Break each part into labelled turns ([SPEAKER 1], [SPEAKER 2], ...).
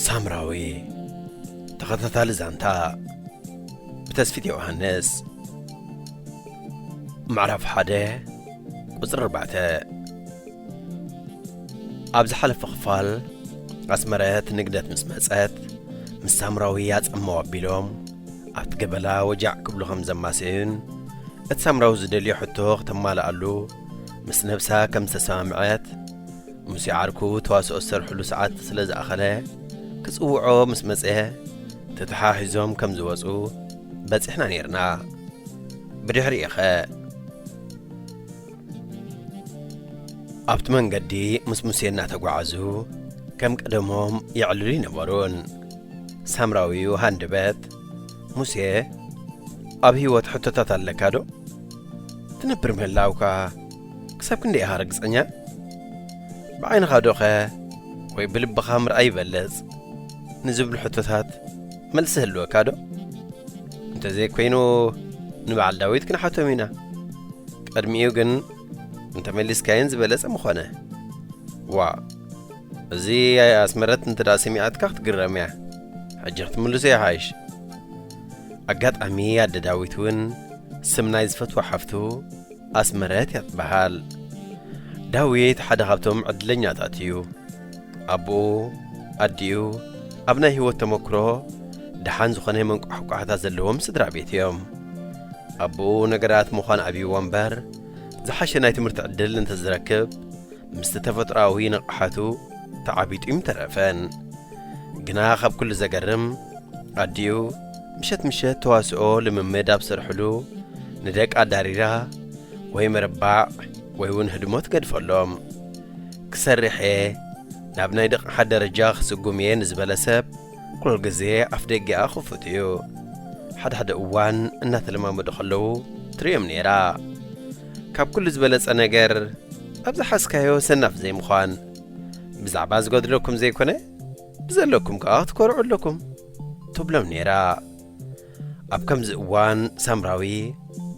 [SPEAKER 1] ሳምራዊ ተኸታታሊ ዛንታ ብተስፊት ዮሃንስ ምዕራፍ ሓደ ቁፅሪ ኣርባዕተ ኣብ ዝሓለፈ ክፋል ኣስመረት ንግደት ምስ መጸት ምስ ሳምራዊ ኣጸመው ኣቢሎም ኣብቲ ገበላ ወጃዕ ክብሉ ከም ዘማሰዩን እቲ ሳምራዊ ዝደልዮ ሕቶ ክተማልኣሉ ምስ ነብሳ ከም ዝተሰማምዐት ሙሴ ዓርኩ ተዋስኦ ዝሰርሕሉ ሰዓት ስለ ዝኣኸለ ክጽውዖ ምስ መጸ ተተሓሒዞም ከም ዝወጹ በጺሕና ነይርና ብድሕሪኡ ኸ ኣብቲ መንገዲ ምስ ሙሴ እናተጓዓዙ ከም ቀደሞም የዕልሉ ኣይነበሩን። ሳምራዊው ሃንደበት፣ ሙሴ ኣብ ህይወት ሕቶታት ኣለካዶ? ትነብር ምህላውካ ክሳብ ክንደይ ኢኻ ርግጸኛ? ብዓይንኻዶኸ ወይ ብልብኻ ምርኣይ ይበልጽ? ንዝብሉ ሕቶታት መልሲ ህልወካ ዶ? እንተዘይኮይኑ ንበዓል ዳዊት ክንሓቶም ኢና። ቅድሚኡ ግን እንተመሊስካየን ዝበለጸ ምኾነ። ዋእ እዚ ኣስመረት እንተ ሰሚዓትካ ክትግረም እያ ሕጂ ክትምልሶ ይሓይሽ ኣጋጣሚ ኣደ ዳዊት እውን ስም ናይ ዝፈትዋ ሓፍቱ ኣስመረት እያ ትበሃል ዳዊት ሓደ ካብቶም ዕድለኛታት እዩ ኣቡኡ፣ ኣዲኡ፣ ኣብ ናይ ህይወት ተመክሮ ደሓን ዝኾነ መንቋሕቋሕታ ዘለዎም ስድራቤት እዮም። ኣቡኡ ነገራት ምዃን ኣብዩዎ እምበር፣ ዝሓሸ ናይ ትምህርቲ ዕድል እንተዝረክብ ምስቲ ተፈጥሮኣዊ ንቕሓቱ ተዓቢጡ ኣይምተረፈን። ግና ካብ ኩሉ ዘገርም ኣዲኡ ምሸት ምሸት ተዋስኦ ልምምድ ኣብ ዝሰርሕሉ ንደቃ ኣዳሪራ ወይ ምርባዕ ወይ እውን ህድሞ ትገድፈሎም። ክሰርሕ እየ፣ ናብ ናይ ደቕሓ ደረጃ ክስጉም እየ ንዝበለ ሰብ ኩሉ ግዜ ኣፍደጌኣ ክፉት እዩ። ሓደ ሓደ እዋን እናተለማመዱ ከለዉ ትርእዮም ነይራ። ካብ ኩሉ ዝበለጸ ነገር ኣብ ዝሓዝካዮ ሰናፍ ዘይምዃን። ብዛዕባ ዝጎድለኩም ዘይኮነ ብዘለኩም ከኣ ክትኮርዑ ኣለኩም ትብሎም ነይራ። ኣብ ከምዚ እዋን ሳምራዊ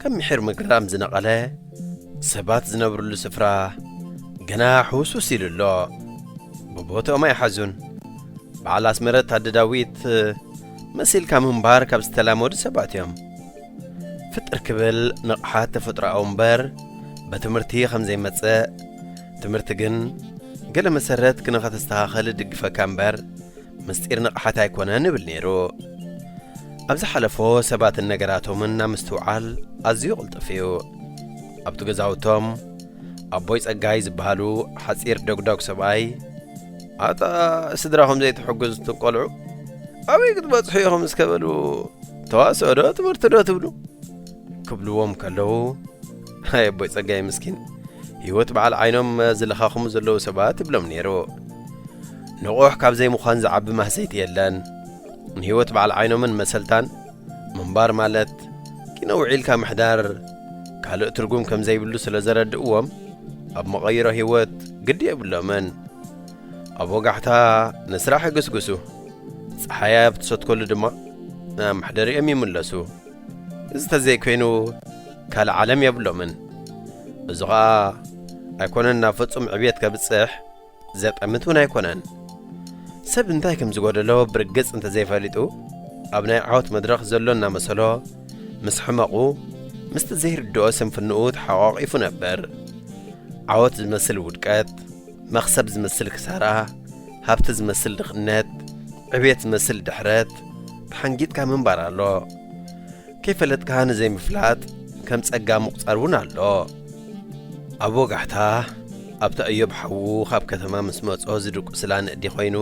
[SPEAKER 1] ከም ምሒር ምግራም ዝነቐለ ሰባት ዝነብርሉ ስፍራ ገና ሕውሱስ ኢሉ ኣሎ። ብቦትኦም ኣይሓዙን። በዓል ኣስመረት ኣደ ዳዊት መሲልካ ምንባር ካብ ዝተላመዱ ሰባት እዮም። ፍጥር ክብል ንቕሓት ተፈጥሮኣዊ እምበር በትምህርቲ ከም ዘይመጽእ ትምህርቲ ግን ገለ መሰረት ክነኸተስተኻኸል እድግፈካ እምበር ምስጢር ንቕሓት ኣይኮነን እብል ነይሩ። ኣብ ዝሓለፎ ሰባትን ነገራቶምን ናብ ምስትውዓል ኣዝዩ ቅልጡፍ እዩ። ኣብቲ ገዛውቶም ኣቦይ ጸጋይ ዝበሃሉ ሓጺር ደጉዳጉ ሰብኣይ ኣታ ስድራኹም ዘይትሕግዙ እቶም ቆልዑ ኣበይ ክትበጽሑ ኢኹም እስከ በሉ ተዋስኦ ዶ ትምህርቲ ዶ ትብሉ ክብልዎም ከለዉ ኣይ ኣቦይ ጸጋይ ምስኪን ህይወት በዓል ዓይኖም ዝለኻኽሙ ዘለዉ ሰባት እብሎም ነይሩ ንቑሕ ካብ ዘይምዃን ዝዓቢ ማህሰይቲ የለን ንህይወት በዓል ዓይኖምን መሰልታን ምንባር ማለት ኪነ ውዒልካ ምሕዳር ካልእ ትርጉም ከም ዘይብሉ ስለ ዘረድእዎም ኣብ መቐይሮ ህይወት ግዲ የብሎምን ኣብ ወጋሕታ ንስራሕ ይግስግሱ ፀሓያ ኣብ ትሰትከሉ ድማ ናብ መሕደሪኦም ይምለሱ እዚ ተዘይኮይኑ ካልእ ዓለም የብሎምን። እዚ ኸኣ ኣይኮነን ናብ ፍጹም ዕብየት ከብጽሕ ዘጠምት እውን ኣይኮነን። ሰብ እንታይ ከም ዝጎደሎ ብርግጽ እንተዘይፈሊጡ ኣብ ናይ ዓወት መድረኽ ዘሎ እናመሰሎ ምስ ሕመቑ ምስቲ ዘይርድኦ ስንፍንኡ ተሓቛቒፉ ነበር። ዓወት ዝመስል ውድቀት መኽሰብ ዝመስል ክሳራ፣ ሃብቲ ዝመስል ድኽነት፣ ዕብየት ዝመስል ድሕረት ተሓንጊጥካ ምንባር ኣሎ። ከይፈለጥካ ንዘይምፍላጥ ከም ጸጋ ምቝጻር እውን ኣሎ። ኣብ ወጋሕታ፣ ኣብታ እዮብ ሓዉ ኻብ ከተማ ምስ መጾ ዝድቊስላ ነእዲ ዀይኑ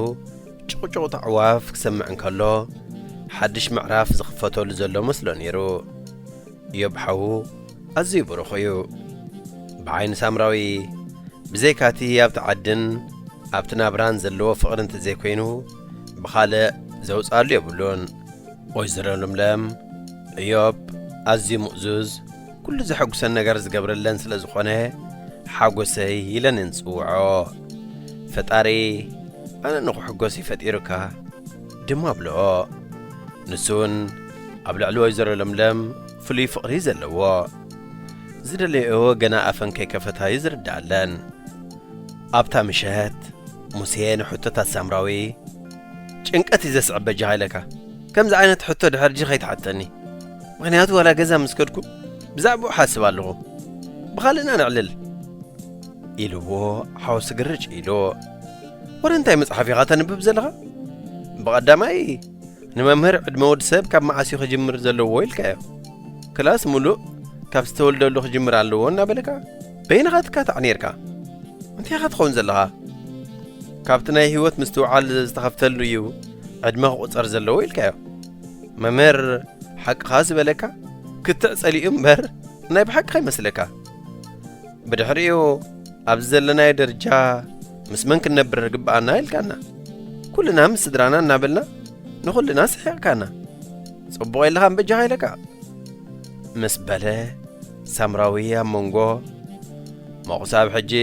[SPEAKER 1] ጭቝጭቝታ ኣዕዋፍ ክሰምዕ እንከሎ፣ ሓድሽ ምዕራፍ ዝኽፈተሉ ዘሎ መስሎ ነይሩ። ኢዮብ ሓዉ ኣዝዩ ብሩኽ እዩ ብዓይኒ ሳምራዊ ብዘይካ እቲ ኣብቲ ዓድን ኣብቲ ናብራን ዘለዎ ፍቕሪ እንተዘይኮይኑ ብኻልእ ዘውጽኣሉ የብሉን። ወይዘሮ ለምለም ኢዮብ ኣዝዩ ምእዙዝ ኩሉ ዘሐጉሰን ነገር ዝገብረለን ስለ ዝኾነ ሓጎሰይ ኢለን እየን ዝጽውዖ ፈጣሪ ኣነ ንኽሕጎስ እዩ ፈጢሩካ ድማ ብልኦ ንሱ ውን ኣብ ልዕሊ ወይዘሮ ለምለም ፍሉይ ፍቕሪ እዩ ዘለዎ። ዝደለየኦ ገና ኣፈን ከይከፈታ እዩ ዝርድኣለን። ኣብታ ምሸት ሙሴ ንሕቶታት ሳምራዊ ጭንቀት እዩ ዘስዕብ በጃኻ ኢለካ ከምዚ ዓይነት ሕቶ ድሕር ድጂ ከይትሓተኒ ምክንያቱ ዋላ ገዛ ምስ ከድኩ ብዛዕባኡ ሓስብ ኣለኹ ብኻልእና ንዕልል ኢልዎ ሓወሱ ግርጭ ኢሉ ወረ እንታይ መፅሓፍ ኢኻ ተንብብ ዘለኻ ብቐዳማይ ንመምህር ዕድመ ወዲ ሰብ ካብ መዓስ እዩ ክጅምር ዘለዎ ኢልካዮ ክላስ ሙሉእ ካብ ዝተወልደሉ ክጅምር ኣለዎ እናበለካ በይንኻ ትካታዕ ነርካ እንታይ ኢኻ ትኸውን ዘለኻ ካብቲ ናይ ህይወት ምስትውዓል ዝተኸፍተሉ እዩ ዕድመ ክቑፀር ዘለዎ ኢልካዮ መምህር ሓቅኻ ዝበለካ ክትዕ ጸሊኡ እምበር ናይ ብሓቂ ከይመስለካ ብድሕሪኡ ኣብዚ ዘለናዮ ደረጃ ምስ መን ክንነብር ግብኣና ኢልካና ኩልና ምስ ስድራና እናበልና ንኹልና ስሒቕካና ጽቡቕ የለኻ እምበጃኻ ኢለካ ምስ በለ ሳምራዊ ኣብ መንጎ መቑሳብ ሕጂ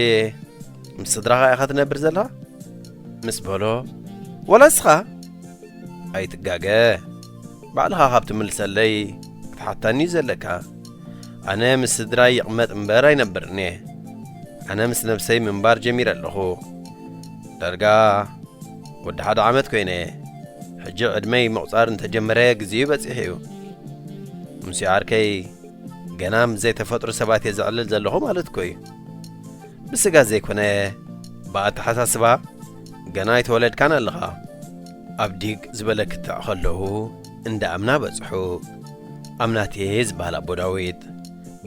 [SPEAKER 1] ምስ ስድራኻ ኢኻ ትነብር ዘለኻ ምስ በሎ ወላ እስኻ ኣይትጋገ ባዕልኻ ካብ ትምልሰለይ ክትሓታኒ እዩ ዘለካ ኣነ ምስ ስድራይ ይቕመጥ እምበር ኣይነብርን እየ። ኣነ ምስ ነብሰይ ምንባር ጀሚረ ኣለኹ። ዳርጋ ወዲ ሓደ ዓመት ኮይነ እየ። ሕጂ ዕድመይ ምቝጻር እንተጀመረ ግዜኡ በጺሑ እዩ። ምስ ዓርከይ ገና ምስ ዘይተፈጥሩ ሰባት እየ ዘዕልል ዘለኹ ማለት እኮ እዩ። ብስጋ ዘይኮነ ብኣተሓሳስባ ገና ኣይተወለድካን ኣለኻ። ኣብ ዲግ ዝበለ ክትዕ ከለዉ እንዳ ኣምና በጽሑ። ኣምናቴ ዝበሃል ኣቦ ዳዊት፣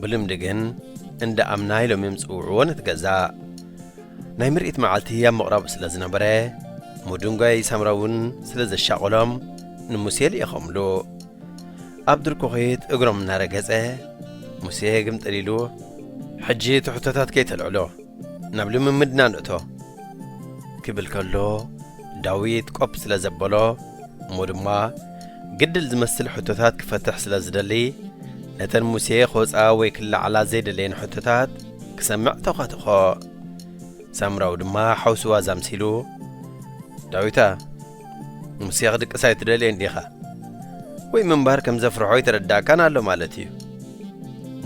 [SPEAKER 1] ብልምዲ ግን እንዳ ኣምና ኢሎም እዮም ዝጽውዕዎ ነቲ ገዛ። ናይ ምርኢት መዓልቲ ኣብ ምቕራቡ ስለ ዝነበረ፣ ምዱንጓይ ሳምራ እውን ስለ ዘሻቐሎም ንሙሴ ልኢኾምሉ። ኣብ ድርኩኺት እግሮም እናረገጸ፣ ሙሴ ግምጥል ኢሉ፣ ሕጂ ትሕቶታት ከይተልዕሎ ናብ ልምምድና ንእቶ። ክብል ከሎ፣ ዳዊት ቆፕ ስለ ዘበሎ፣ እሞ ድማ ግድል ዝመስል ሕቶታት ክፈትሕ ስለ ዝደሊ፣ ነተን ሙሴ ክወጽኣ ወይ ክለዓላ ዘይደለየን ሕቶታት ክሰምዕ ተዃተኾ። ሳምራዊ ድማ ሓውሲ ዋዛ ምሲሉ፣ ዳዊታ፣ ሙሴ ክድቅስ ኣይትደልየን ዲኻ? ወይ ምንባር ከም ዘፍርሖ ኣይተረዳእካን ኣሎ ማለት እዩ።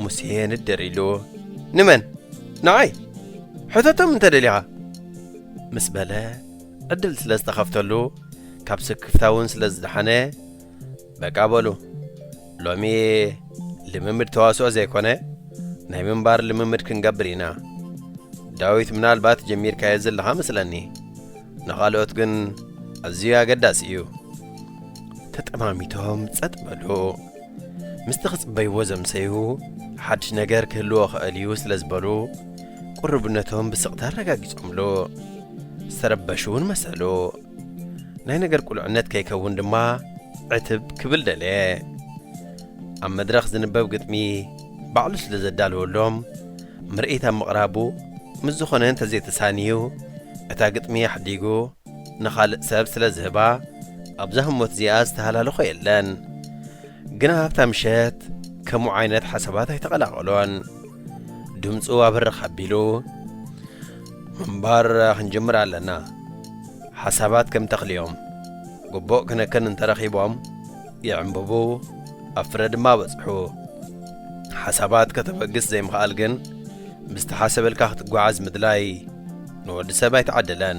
[SPEAKER 1] ሙሴ ንድር ኢሉ፣ ንመን? ንዓይ! ሕተቶም እንተ ደሊኻ! ምስ በለ፣ ዕድል ስለ ዝተኸፍተሉ ካብ ስክፍታ እውን ስለ ዝደሓነ በቃ በሉ ሎሚ ልምምድ ተዋስኦ ዘይኮነ ናይ ምንባር ልምምድ ክንገብር ኢና ዳዊት ምናልባት ጀሚርካዮ ዘለኻ መስለኒ ንኻልኦት ግን ኣዝዩ ኣገዳሲ እዩ ተጠማሚቶም ጸጥ በሉ ምስቲ ክጽበይዎ ዘምሰዩ ሓድሽ ነገር ክህልዎ ኸእል እዩ ስለ ዝበሉ ቅሩብነቶም ብስቕታ ኣረጋጊጾምሉ። ዝተረበሹ እውን መሰሉ። ናይ ነገር ቁልዕነት ከይከውን ድማ ዕትብ ክብል ደለየ። ኣብ መድረኽ ዝንበብ ግጥሚ ባዕሉ ስለ ዘዳለወሎም ምርኢት ኣብ ምቕራቡ ምስ ዝኾነ እንተዘይተሳንዩ እታ ግጥሚ ኣሕዲጉ፣ ንኻልእ ሰብ ስለ ዝህባ ኣብዛ ህሞት እዚኣ ዝተሃላለኾ የለን። ግና ኣብታ ምሸት ከምኡ ዓይነት ሓሳባት ኣይተቐላቐሎን። ድምጹ ኣብርኽ ኣቢሉ ምንባር ክንጅምር ኣለና። ሓሳባት ከም ተኽሊ'ዮም። ግቡእ ክንክን እንተረኺቦም ይዕምብቡ ኣብ ፍረ ድማ በጽሑ። ሓሳባት ከተበግስ ዘይምኽኣል ግን ብዝተሓሰበልካ ክትጓዓዝ ምድላይ ንወዲ ሰብ ኣይተዓደለን።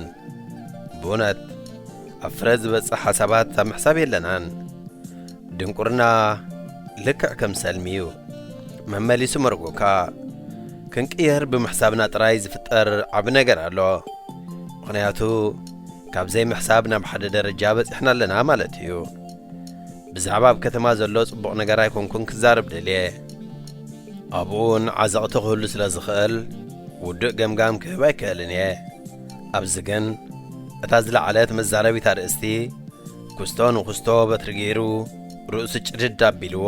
[SPEAKER 1] ብእውነት ኣብ ፍረ ዝበጽሕ ሓሳባት ኣብ ምሕሳብ የለናን። ድንቁርና ልክዕ ከም ሰልሚ እዩ፣ መመሊሱ መርጎካ። ክንቅየር ብምሕሳብና ጥራይ ዝፍጠር ዓቢ ነገር ኣሎ። ምኽንያቱ ካብ ዘይምሕሳብ ናብ ሓደ ደረጃ በጺሕና ኣለና ማለት እዩ። ብዛዕባ ኣብ ከተማ ዘሎ ጽቡቕ ነገር ኣይኮንኩን ክዛረብ ደልየ። ኣብኡውን ዓዘቕቲ ክህሉ ስለ ዝኽእል ውዱእ ገምጋም ክህብ ኣይክእልን እየ። ኣብዚ ግን እታ ዝለዓለት መዛረቢት ኣርእስቲ፣ ኩስቶ ንኹስቶ በትሪ ገይሩ ርእሱ ጭድድ ኣቢልዎ፣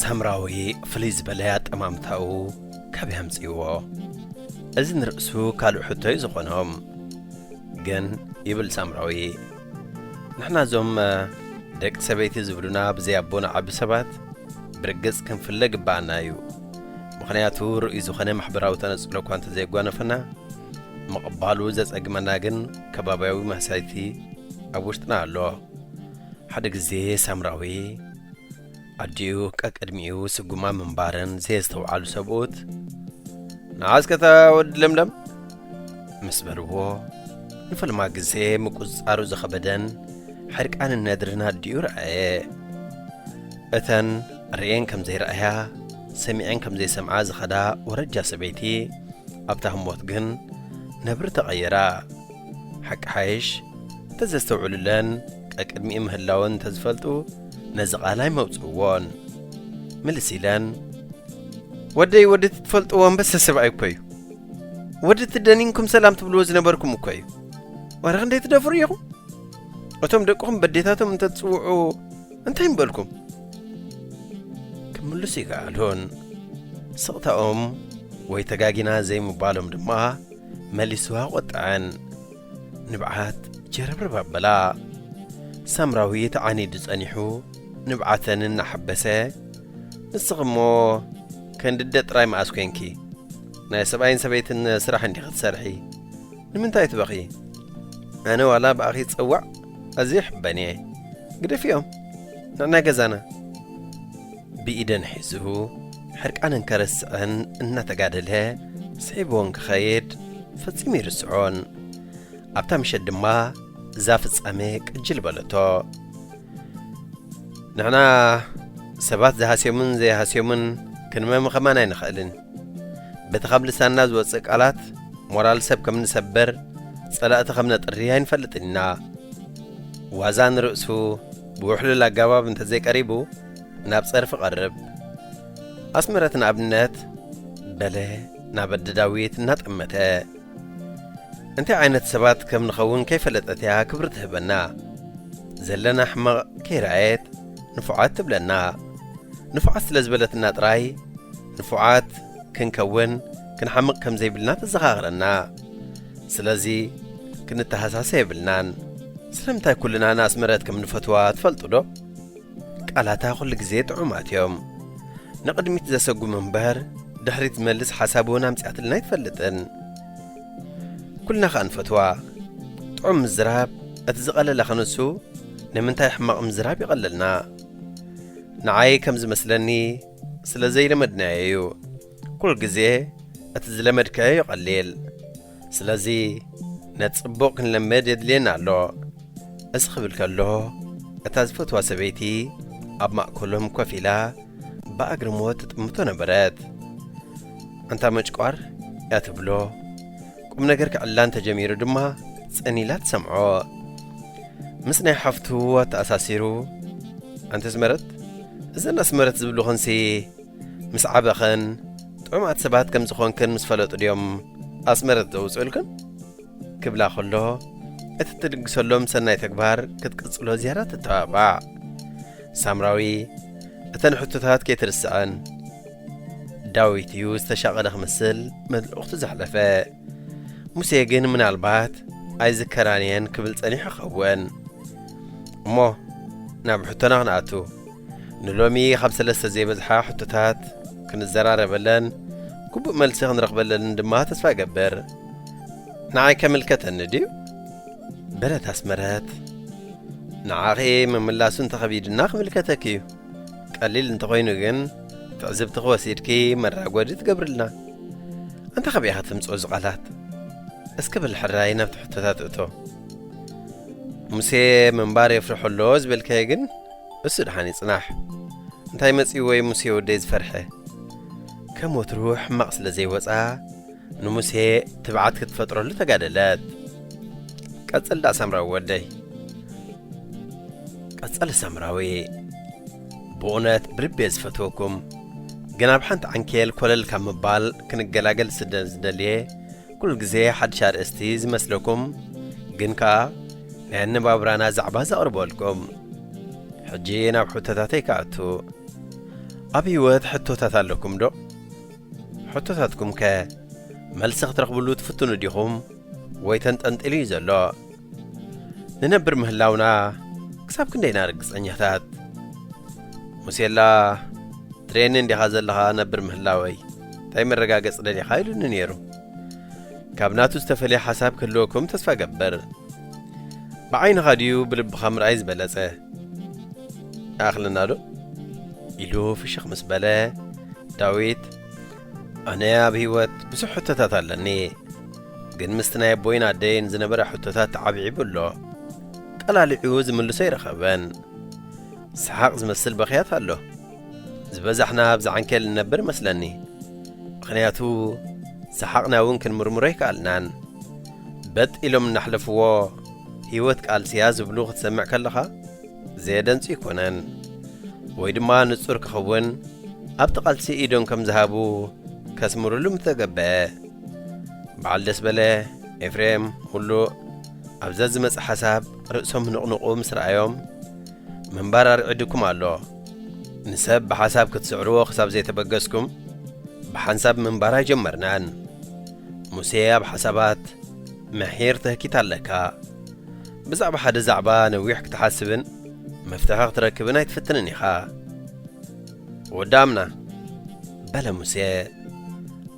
[SPEAKER 1] ሳምራዊ ፍልይ ዝበለ ኣጠማምታኡ ካበይ ኣምጽእዎ? እዚ ንርእሱ ካልእ ሕቶ እዩ ዝኾኖም። ግን ይብል ሳምራዊ ንሕና እዞም ደቂ ሰበይቲ ዝብሉና ብዘይ ኣቦና ዓቢ ሰባት ብርግጽ ክንፍለ ግብኣና እዩ። ምኽንያቱ ርኡይ ዝኾነ ማሕበራዊ ተነጽሎ እኳ እንተዘየጓነፈና ምቕባሉ ዘጸግመና ግን ከባብያዊ ማህሳይቲ ኣብ ውሽጥና ኣሎ። ሓደ ግዜ ሳምራዊ ኣዲኡ ቀቅድሚኡ ስጉማ ምንባረን ዘየስተውዓሉ ሰብኡት ንዓስከታ ወዲ ለምለም ምስ በልዎ ንፈልማ ግዜ ምቁጽጻሩ ዝኸበደን ሕርቃንን ነድርን ኣዲኡ ረኣየ። እተን ርእየን ከም ዘይረኣያ ሰሚዐን ከም ዘይሰምዓ ዝኸዳ ወረጃ ሰበይቲ ኣብታ ህሞት ግን ነብሪ ተቐይራ። ሓቂ ሓይሽ እንተዘስተውዕሉለን ቀቅድሚኡ ምህላወን እንተዝፈልጡ ነዚ ቃል ኣይመውጽእዎን። ምልስ ኢለን ወደይ ወዲ እቲ ትፈልጥዎ ኣንበሳ ሰብኣይ እኮ እዩ። ወዲ እቲ ደኒንኩም ሰላም ትብልዎ ዝነበርኩም እኮ እዩ። ዋላ ክንደይ ትደፍሩ ኢኹም? እቶም ደቅኹም በዴታቶም እንተትጽውዑ እንታይ ምበልኩም? ክምልሱ ይከኣሉን ስቕታኦም ወይ ተጋጊና ዘይምባሎም ድማ መሊሱ ኣቖጠዐን ንብዓት ጀረብረብ ኣበላ ሳምራዊ ተዓኒዱ ጸኒሑ ንብዓተን እናሓበሰ ንስኺ እሞ ከንዲ ኣደ ጥራይ መኣስ ኴንኪ ናይ ሰብኣይን ሰበይትን ስራሕ እንዲኺ ትሰርሒ ንምንታይ ትበኽዪ? ኣነ ዋላ ብኣኺ ዝጸዋዕ ኣዝየ ይሕበን እየ። ግደፍዮም ንዕናይ ገዛና። ብኢደን ሒዙ ሕርቃነን ከረስዐን እናተጋደለ ስሒብወን ክኸይድ ፈጺሙ ይርስዖን። ኣብታ ምሸት ድማ እዛ ፍጻሜ ቅጅል በለቶ። ንሕና ሰባት ዝሃስዮምን ዘይሃስዮምን ክንመምኸማን ኣይንኸእልን። በቲ ኻብ ልሳንና ዝወጽእ ቃላት፣ ሞራል ሰብ ከም እንሰብር፣ ጸላእቲ ኸም እነጥሪ ኣይንፈልጥን ኢና። ዋዛ ንርእሱ ብውሕሉል ኣገባብ እንተ ዘይቀሪቡ፣ ናብ ጸርፊ እቐርብ። ኣስመረት ንኣብነት፣ በለ ናብ ኣደ ዳዊት እናጠመተ። እንታይ ዓይነት ሰባት ከም ንኸውን ከይፈለጠት እያ ክብሪ ትህበና። ዘለና ሕማቕ ከይረኣየት ንፉዓት ትብለና። ንፉዓት ስለ ዝበለትና ጥራይ፣ ንፉዓት ክንከውን ክንሓምቕ ከም ዘይብልና ተዘኻኽረና። ስለዚ ክንተሃሳሰ የብልናን። ስለምንታይ ኩልና ንኣስመረት ከም ንፈትዋ ትፈልጡዶ? ቃላታ ኩሉ ግዜ ጥዑማት እዮም። ንቕድሚት ዘሰጉሙ እምበር ድሕሪት ዝመልስ ሓሳብ እውን ኣምጺኣትልና ኣይትፈልጥን። ኩልና ከኣ ንፈትዋ። ጥዑም ምዝራብ እቲ ዝቐለለ ክንሱ ንምንታይ ሕማቕ ምዝራብ ይቐለልና? ንዓይ ከም ዝመስለኒ ስለ ዘይለመድናዮ እዩ ኩል ግዜ እቲ ዝለመድካዮ ይቐሊል ስለዚ ነቲ ጽቡቕ ክንለምድ የድልየና ኣሎ እዚ ክብል ከሎ እታ ዝፈትዋ ሰበይቲ ኣብ ማእከሎም ኮፍ ኢላ ብኣግርሞት ትጥምቶ ነበረት እንታ መጭቋር እያ ትብሎ ቁም ነገር ክዕላን ተጀሚሩ ድማ ጽን ኢላ ትሰምዖ። ምስ ናይ ሓፍቱ ኣተኣሳሲሩ ኣንቲ ኣስመረት እዘን ኣስመረት ዝብልኹንሲ ምስ ዓበኸን ጥዑማት ሰባት ከም ዝኾንክን ምስ ፈለጡ ድዮም ኣስመረት ዘውፅኡልክን ክብላ ከሎ እቲ እትድግሰሎም ሰናይ ተግባር ክትቅጽሎ ዝያዳ ትተባባዕ ሳምራዊ እተን ሕቶታት ከይትርስዐን ዳዊት እዩ ዝተሻቐለ ክምስል መልእኽቱ ዘሕለፈ። ሙሴ ግን ምናልባት ኣይዝከራን እየን ክብል ጸኒሑ ይኸውን። እሞ ናብ ሕቶና ክንኣቱ ንሎሚ ኻብ ሰለስተ ዘይበዝሓ ሕቶታት ክንዘራረበለን ግቡእ መልሲ ክንረኽበለንን ድማ ተስፋ እገብር። ንዓይ ከምልከተኒ ድዩ? በለት ኣስመረት። ንዓኺ ምምላሱ እንተኸቢድና ክምልከተኪ እዩ። ቀሊል እንተኾይኑ ግን ትዕዝብትኺ ወሲድኪ መራጎዲ ትገብርልና። ኣንታ ካበይ ኢኻ ተምጽኦ እዚ ቃላት? እስከ በል ሕራይ ናብቲ ሕቶታት እቶ። ሙሴ ምንባር የፍርሖ ኣሎ ዝበልካዮ ግን እሱ ድሓን ይጽናሕ። እንታይ መጺኡ ወይ ሙሴ ወደይ ዝፈርሐ? ከም ወትሩ ሕማቕ ስለ ዘይወጻ ንሙሴ ትብዓት ክትፈጥረሉ ተጋደለት። ቀጽል ዳኣ ሳምራዊ ወደይ። ቀጸለ ሳምራዊ ብኡነት ብልቢ እየ ዝፈትወኩም ግን ኣብ ሓንቲ ዓንኬል ኮለል ካብ ምባል ክንገላገል ስለ ዝደልየ ኩሉ ግዜ ሓድሽ ኣርእስቲ ዝመስለኩም ግን ከኣ ናይ ኣነባብራና ዛዕባ ዘቕርበልኩም ሕጂ ናብ ሕቶታተይ ክኣቱ ኣብ ህይወት ሕቶታት ኣለኩም ዶ ሕቶታትኩም ከ መልሲ ክትረኽብሉ ትፍትኑ ዲኹም ወይ ተንጠልጢሉ እዩ ዘሎ? ንነብር ምህላውና ክሳብ ክንደይ ኢና ርግጸኛታት? ሙሴላ ትርእየኒ እንዲኻ ዘለኻ ነብር ምህላወይ እንታይ መረጋገጺ ደሊኻ ኢሉኒ ነይሩ። ካብ ናቱ ዝተፈልየ ሓሳብ ክህልወኩም ተስፋ እገብር። ብዓይንኻ ድዩ ብልብኻ ምርኣይ ዝበለጸ? ኣኽለናዶ ኢሉ ፍሽኽ ምስ በለ ዳዊት ኣነ ኣብ ህይወት ብዙሕ ሕቶታት ኣለኒ ግን ምስቲ ናይ ኣቦይን ኣደይን ዝነበረ ሕቶታት ተዓብዒቡ ኣሎ ቀላሊዑ ዝምልሶ ኣይረኸበን ሰሓቕ ዝመስል በኽያት ኣሎ ዝበዛሕና ኣብ ዝዓንኬል ንነብር መስለኒ ምኽንያቱ ሰሓቕና እውን ክንምርምሮ ኣይከኣልናን በጥ ኢሎም እናሕለፍዎ ህይወት ቃልሲ'ያ ዝብሉ ክትሰምዕ ከለኻ ዘየደንጹ ኣይኮነን። ወይ ድማ ንጹር ክኽውን ኣብቲ ቃልሲ ኢዶም ከም ዝሃቡ ከስምርሉ ምተገበኣ። በዓል ደስበለ፣ ኤፍሬም፣ ሙሉእ ኣብ ዘዝመጽእ ሓሳብ ርእሶም ህንቕንቑ ምስ ረኣዮም ምንባር ኣርዒዱኩም ኣሎ። ንሰብ ብሓሳብ ክትስዕርዎ ክሳብ ዘይተበገስኩም ብሓንሳብ ምንባር ኣይጀመርናን። ሙሴ ኣብ ሓሳባት ምሒር ትህኪት ኣለካ። ብዛዕባ ሓደ ዛዕባ ነዊሕ ክትሓስብን መፍትሒ ክትረክብን ኣይትፍትንን ኢኻ። ወዲ ኣምና፣ በለ ሙሴ፣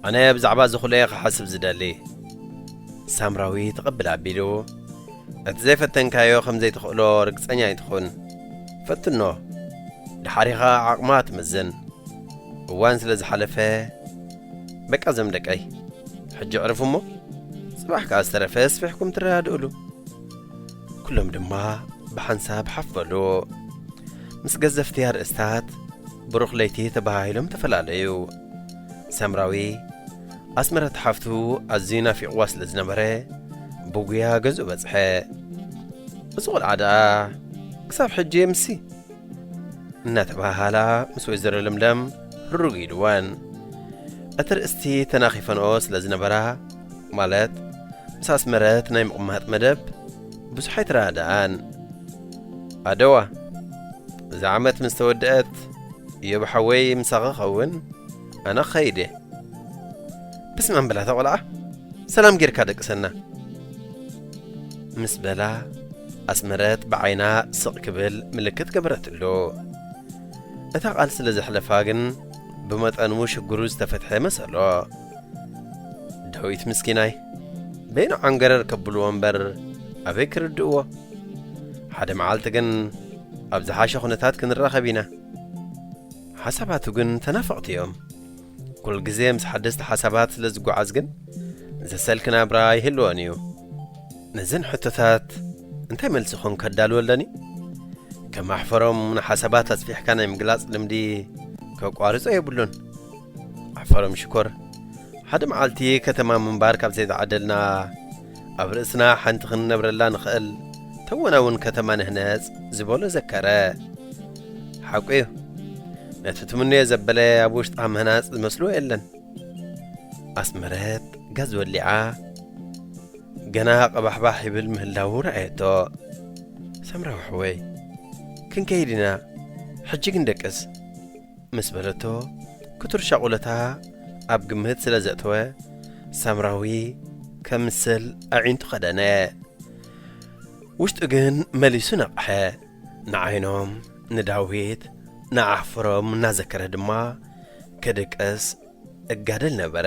[SPEAKER 1] ኣነ ብዛዕባ እዚ ኹሉ'የ ክሓስብ ዝደሊ። ሳምራዊ ትቕብል ኣቢሉ፣ እቲ ዘይፈተንካዮ ከም ዘይትኽእሎ ርግጸኛ ኣይትኹን። ፈትኖ፣ ደሓር ኢኻ ዓቕማ ትምዝን። እዋን ስለ ዝሓለፈ፣ በቃ ዘም ደቀይ ሕጂ ዕርፉ እሞ ጽባሕ ከኣ ዝተረፈ ኣስፊሕኩም ትረዳድእሉ ኩሎም ድማ ብሓንሳብ ሓፍ በሉ ምስ ገዘፍቲ ኣርእስታት ብሩኽ ለይቲ ተባሃሂሎም ተፈላለዩ ሰምራዊ ኣስመረት ሓፍቱ ኣዝዩ ናፊቕዋ ስለ ዝነበረ ብጉያ ገዝኡ በጽሐ እዚ ቖልዓ ደኣ ክሳብ ሕጂ የምሲ እናተባህሃላ ምስ ወይዘሮ ለምለም ርግ ኢልወን እቲ ርእስቲ ተናኺፈንኦ ስለ ዝነበራ ማለት ምስ ኣስመረት ናይ ምቕማጥ መደብ ብዙሕ ኣይተረዳኣን ኣደዋ እዛ ዓመት ምስ ተወድአት እዮብ ሓወይ ምሳኺ ኸውን ኣነ ክኸይድ እየ ብስማም በላታ ቆልዓ ሰላም ጌርካ ደቅሰና ምስ በላ ኣስመረት ብዓይና ስቕ ክብል ምልክት ገበረትሉ። እታ ቃል ስለ ዘሕለፋ ግን ብመጠኑ ሽግሩ ዝተፈትሐ መሰሎ። ዳዊት ምስኪናይ በይኑ ዓንገረር ከብልዎ እምበር ኣበይ ክርድእዎ። ሓደ መዓልቲ ግን ኣብ ዝሓሸ ኩነታት ክንራኸብ ኢና። ሓሳባቱ ግን ተናፈቕቲ እዮም። ኩል ግዜ ምስ ሓደስቲ ሓሳባት ስለ ዝጓዓዝ ግን ዘሰልኪ ናብራ ይህልወን እዩ። ነዘን ሕቶታት እንታይ መልሲ ኮን ከዳልወለን እዩ? ከም ኣሕፈሮም ንሓሳባት ኣጽፊሕካ ናይ ምግላጽ ልምዲ ከቋርጾ የብሉን። ኣሕፈሮም ሽኮር ሓደ መዓልቲ ከተማ ምንባር ካብ ዘይተዓደልና ኣብ ርእስና ሓንቲ ክንነብረላ ንኸእል ተወናውን ከተማ ንህነጽ ዝበሎ ዘከረ። ሓቁ እዩ ነቲ ትምንዮ ዘበለ ኣብ ውሽጣ ምህናጽ ዝመስሎ የለን። ኣስመረት ጋዝ ወሊዓ ገና ቀባሕባሕ ይብል ምህላዉ ረኣየቶ። ሰምራዊ ሕወይ ክንከይድ ኢና ሕጂ ግን ደቅስ። ምስ በለቶ፣ ክቱር ሻቑለታ ኣብ ግምት ስለ ዘእተወ፣ ሳምራዊ ከምስል ኣዒንቱ ከደነ። ውሽጡ ግን መሊሱ ነቕሐ። ንዓይኖም፣ ንዳዊት፣ ንኣሕፍሮም እናዘከረ ድማ ክድቅስ እጋደል ነበረ።